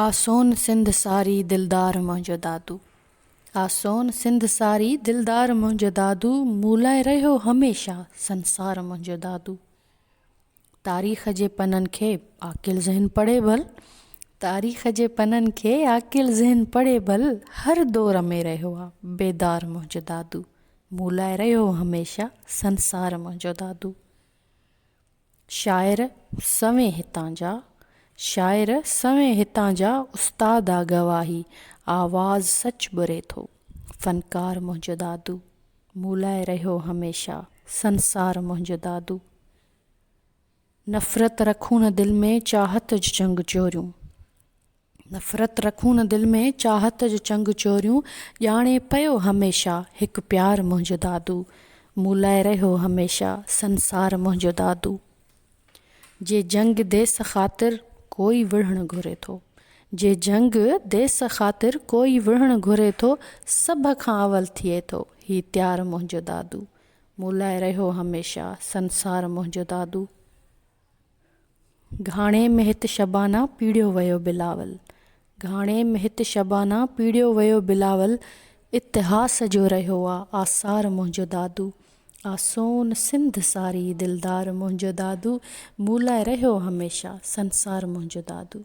آ سون سنڌ ساري دلدار منهنجو دادو آ سون سنڌ ساري دلدار منهنجو دادو مون لاء رهيو هميشه سنسار منهنجو دادو تاريخ جي پنن کي عاقل ذهن پڙهي ڀل تاريخ جي پنن کي عاقل ذهن پڙهي ڀل هر دور ۾ رهيو آ بيدار منهنجو دادو مون لاء رهيو هميشه سنسار منهنجو دادو. شاعر سوين هتان جا شاعر سوين هتان جا استاد آ گواهي آواز سچ ٻري ٿو فنڪار منهنجو دادو مون لاء رهيو هميشه سنسار منهنجو دادو نفرت رکون نه دل ۾ چاهت جنگ جوريون. نفرت رکون نه دل ۾، چاهت جو چنگ چوريون، ڄاڻي پيو هميشه، هڪ پيار منهنجو دادو، مون لاء رهيو هميشه، سنسار منهنجو دادو. جي جنگ ديس خاطر، ڪوئي وڙهڻ گهري ٿو. جي جنگ ديس خاطر، ڪوئي وڙهڻ گهري ٿو، سڀ کان اول ٿئي ٿو، هي تيار منهنجو دادو، مون لاء رهيو هميشه، سنسار منهنجو دادو. گهاڻي ۾ هت شبانه پيڙهيو ويو بلاول گهاڻي ۾ هت شبانه پيڙهيو ويو بلاول اتهاس جو رهيو آ آثار منهنجو دادو آ سون سنڌ ساري دلدار منهنجو دادو مون لاء رهيو هميشه سنسار منهنجو دادو.